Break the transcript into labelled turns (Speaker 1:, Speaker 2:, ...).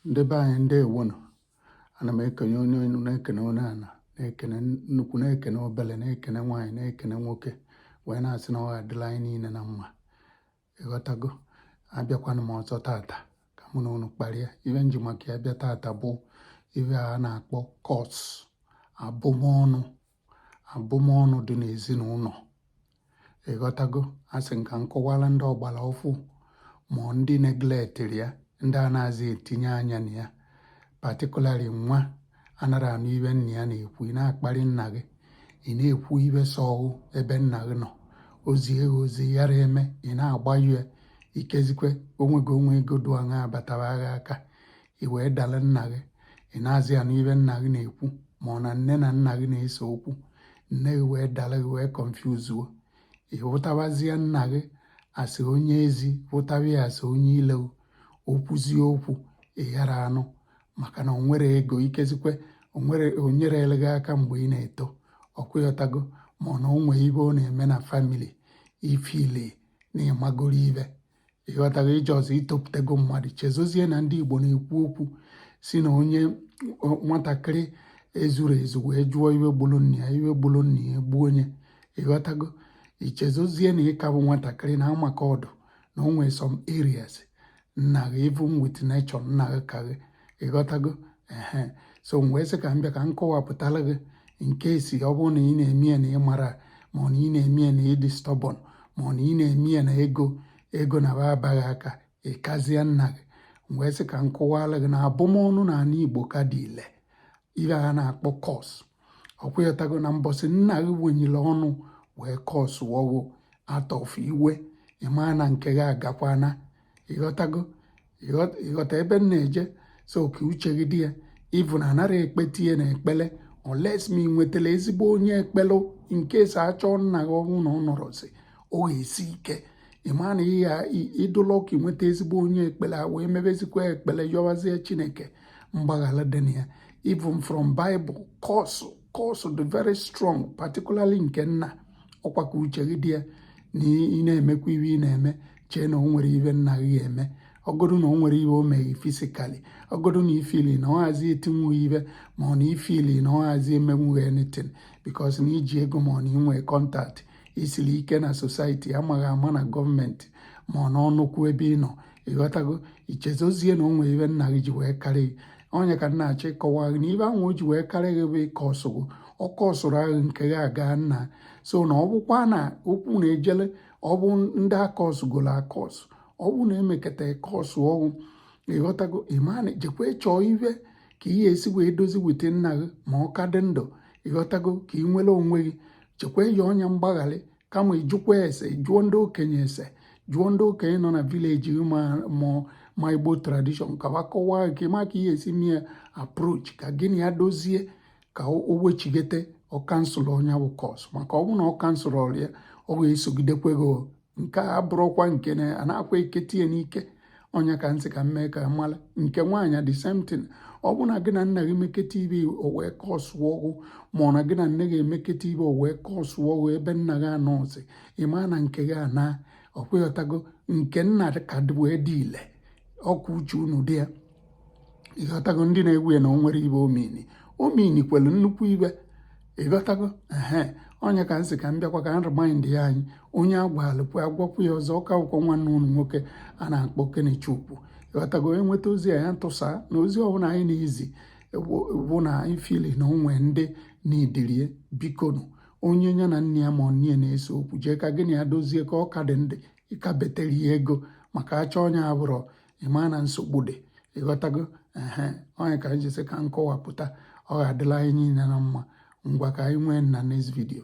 Speaker 1: ndị be anyị ndewonụ ana m ekene onye enu na-ekene onye ana na-ekene nnukwu na-ekene obele na-ekene nwaanyị na-ekene nwoke wee na-asị na ọ adịla anyị niile na mma ịghọtago abịakwana m ọzọ tata ka mụ na unu kparịa ibe m ji maka ya bịa tata bụ ibe a na-akpọ curse abụmọnụ abụmọnụ dị n'ezinụlọ ịghọtago asị m ka m kọwara ndị ọgbara ọfụ ma ndị neglectịrị ya ndị anazị etinye anya na ya particularly nwa anara anụ ibe nna ya na-ekwu ị na-akparị nna gị ị na-ekwu ibe sọ gị ebe nna gị nọ o zie gị ozi ị yara eme ị na-agba ya ikezikwe o nwego o nwe ego dụ aṅaa batara gị aka i wee dala nna gị ị nazị anụ ibe nna gị na-ekwu ma ọ na nne na nna gị na-ese okwu nne gị wee dala gị wee confuse-uo ị hụtabazie nna gị as onye ezi hụtaba ya as onye ilo o kwuzie okwu ị yara anụ maka na o nwere ego ikezikwe o nwere o nyerele gị aka mgbe ị na-eto ọkwa ịghọtago ma ọ na o nwe ibe ọ na-eme na family i feel na ịmagoro ibe ịghọtago i chezie itopụtago mmadụ ichezozie na ndị Igbo na-ekwu okwu sị na onye nwatakịrị ezuru ezu wee jụọ iwe gburu nna ya iwe gburu nna ya gbuo onye ịghọtago ichezozie na ịka bụ nwatakịrị na ama ka ọ dụ na o nwere some areas nna gị even with nature nna gị ka gị ịghọtago ehe so m wee sị ka m bịa ka m kọwapụtara gị in case ọ bụrụ na ị na-eme ya na ị mara ma ọ na ị na-eme ya na ịdị stubborn ma ọ na ị na-eme ya na ego ego na ba abaa gị aka ịkazie nna gị m wee sị ka m kọwara gị na abụmọnụ na anị Igbo ka dị ile ibe a na-akpọ curse ọkwa ịghọtago na mbọsị nna gị wenyiri ọnụ wee curse-uo gị out of iwe ịmaa na nke gị agakwana ịghọtago ịghọta ebe m na-eje so ka uche gị dị ya even anara ekpete ya na ekpele unless ma ị nwetara ezigbo onye ekpele in case ị chọọ nna gị ọ nwụna ọ nọrọzi ọ ga-esi ike mana ị dụ lucky nweta ezigbo onye ekpere a wee mebezikwa ekpere yọwazie chineke mgbaghara dị na ya even from bible curse curse dị very strong particularly nke nna ọkwa ka uche gị dị ya na ị na-emekwa iwe ị na-eme chee na o nwere ibe nna gị eme ọgọdụ na o nwere ibe o meghị physically ọgọdụ na i feel na ọ hazi etinwu gị ibe ma ọ na i feel na ọ hazi emenwu gị anything because na iji ego ma ọ na inwe contact isiri ike na society a ma gị ama na government ma ọ na nnukwu ebe ị nọ ịghọtago ichezozie na o nwere ibe nna gị ji wee karị gị ọ ya ka m na-achọ ịkọwa gị na ibe ahụ o ji wee karị gị bụ ị curse gị ọ curse-uo gị nke gị agana so na ọ bụkwa na okwu na-ejele ọ bụ ndị a kọsgolo akọs ọ bụ na emekata e kọsụọ gị ịghọtago imani jekwa chọọ ive ka ị ya-esi wee dozie with nna gị ma ọ ka dị ndụ ịghọtago ka ị nwere onwe gị chekwa eyi ọnya mgbagharị kama ịjụkwa ese jụọ ndị okenye ese jụọ ndị okenye nọ na village gị ma ma Igbo tradition ka wa kọwaa gị ma ka ị ya-esi mee approach ka gị na ya dozie ka o wechigete ọ cancel nya bụ curse maka ọ bụrụ na ọ cancelrọ ya ọ ga-esogidekwe gị nke a bụrụkwa nke na a na-akwa ekete ya n'ike ọ nya ka m sị ka m mee ka a mara nke nwaanyị the same thing ọ bụ na gị na nna gị meketa ive o wee kọsụọ gị ma ọ na gị na nne gị emeketa ive o wee kọsụọ gị ebe nna gị anọzi ịma na nke gị ana ọ kwa ịghọtago nke nna ka wee dị ile ọkụ uche unu dị ya ịghọtago ndị na-egwu ya na o nwere ive ọ mean ọ meankwelu nnukwu ive ịghọtago ehe ọ nya ka m sị ka m bịakwa ka m remind ya anyị onye agwalụkwu agwakwu ya ọzọ ọka akwụkwọ nwanne ụlọ nwoke a na-akpọ Okenechukwu ịghọtago enweta ozi a ya ntụsa na ozi ọbụla anyị na-ezi bụ na anyị feel na o nwe ndị na-edirie bikonu onye ya na nne ya ma ọ nna na-ese okwu jee ka gị na ya dozie ka ọ ka dị ndụ ịka betere ya ego maka achọ onye abụrọ ịma na nsogbu dị ịghọtago ehe ọ nya ka anyị ji sị ka m kọwapụta ọ ga-adịla anyị niile na mma ngwa ka anyị nwee na next video